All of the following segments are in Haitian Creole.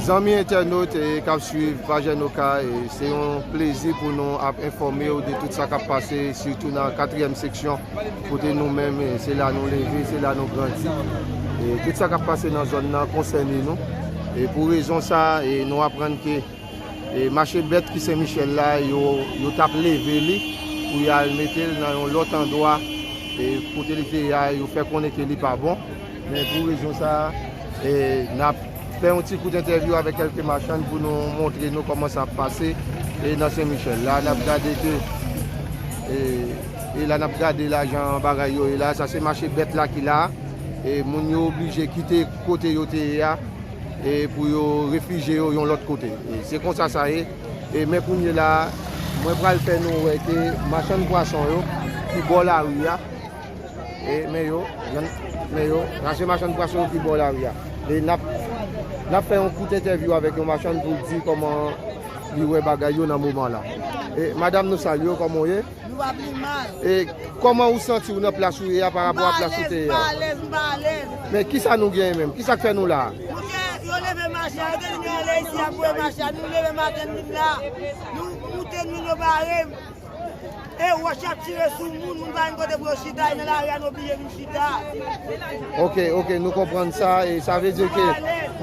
Zanmi entènot kap swiv paj Enokay, se yon plezi pou nou ap enfòme ou de tout sa kap pase sitou nan katriyèm seksyon kote nou menm se la nou leve, se la nou grandi e tout sa kap pase nan zòn nan konsène nou e pou rezon sa nou aprann ke mache bèt ki Senmichèl la yo tap leve li pou yal metel nan yon lòt andwa kote li te ya yo fè konnen ke li pa bon. Men pou rezon sa a, n ap fè yon ti kout entèvyou avèk kèlke machann pou nou montre nou kòman sa ap pase nan Sen Michèl. La n ap gade ke, e la n ap gade la jan bagay yo ye la, sa se mache bèt la ki la a. E moun yo oblije kite kote yo te ye a e pou yo refije yo yon lòt kote. Se konsa sa ye. E men kounye la a, mwen pral fè nou wè ke machann pwason yo ki bò lari a, Men yo, men yo, sa se machann pwason ki bò lari a. E n ap fè yon kout entèvyou avèk yon machann pou l di kòman li wè bagay yo nan moman la. E madam nou salye w, kòman w ye? Nou va pi mal. E kòman ou santi w nan plas ou ye a parapò a plas ou te ye a? M pa alèz, m pa alèz. Men ki sa nou genyen menm? Ki sa k fè nou la a? Nou gen, yo leve machann, yo te di nou ale isi y ap voye machann. Nou leve maten n vin la a, nou koute nou, yo bare m. Ok, ok, nou konprann sa, e sa vle di ke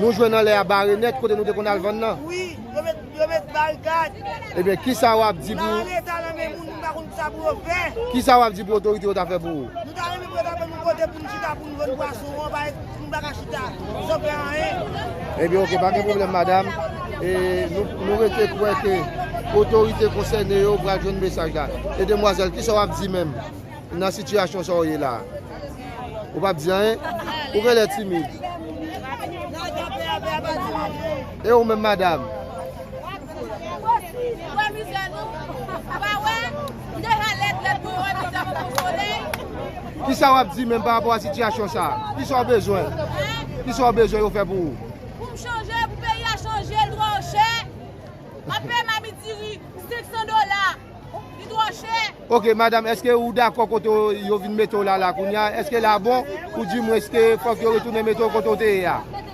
nou jwenn anlè a bare nèt kote nou te konn al vann nan? Wi, yo met, yo met barikad. Ebyen, kisa w ap di pou... Nan leta nan men moun, moun pa konn kisa pou yo fè. Kisa w ap di pou otorite yo ta fè pou ou? Nou ta renmen pou yo ta ban nou kote pou nou chita pou nou vann pwason an, pa. M pa ka chita san fè anyen. Ebyen ok pa gen pwoblèm madam e nou rete kwè ke otorite konsène yo pral jwenn mesaj la. E demwazèl kisa w ap di menm nan sitiyasyon sa w ye la a? Ou p ap di anyen? Ou genlè timid. E ou menm madam? Kisa wap di menm pa rapò a sitiyasyon sa? Kisa w bezwen? Kisa w bezwen yo fè pou ou? Pou m chanje, pou peyi a chanje, l twò chè. Wap peye mamit diri 500 dola. Li twò chè. Ok madam, eske ou dakò kote yo vin mete w la la kounya? Eske la bon? Ou di mwen eske fòk yo retounen mete w kote w te ye a?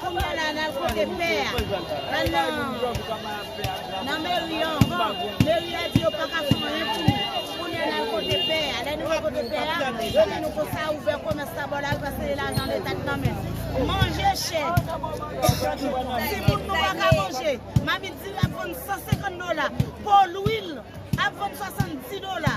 Kounya la nal kote pè a la nan meri an hoo meri a di yo paka fè anyen pou nou kounya nal kote pè a lè nou al kote pè a yo di nou konsa ouvè komès la bò lari paske se lajan leta k nan men manje chè ti moun nou paka manje mamit diri ap vann 150 dola po lwil ap vann 70 dola.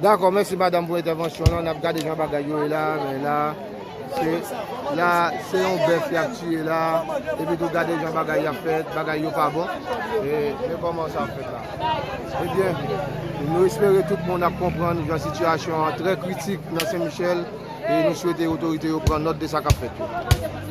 Dakò mèsi madam pou entèvansyon lan nap gade jan bagay yo ye la men la se la se yon bèf yap tiye la epi tou gade jan bagay yap fèt bagay yo pa bon men kòman sa ap fèt la ebyen nou espere tout moun ap konprann jan sitiyasyon an trè kritik nan sen michèl e nou swete otorite yo pran nòt de sa kap fèt yo.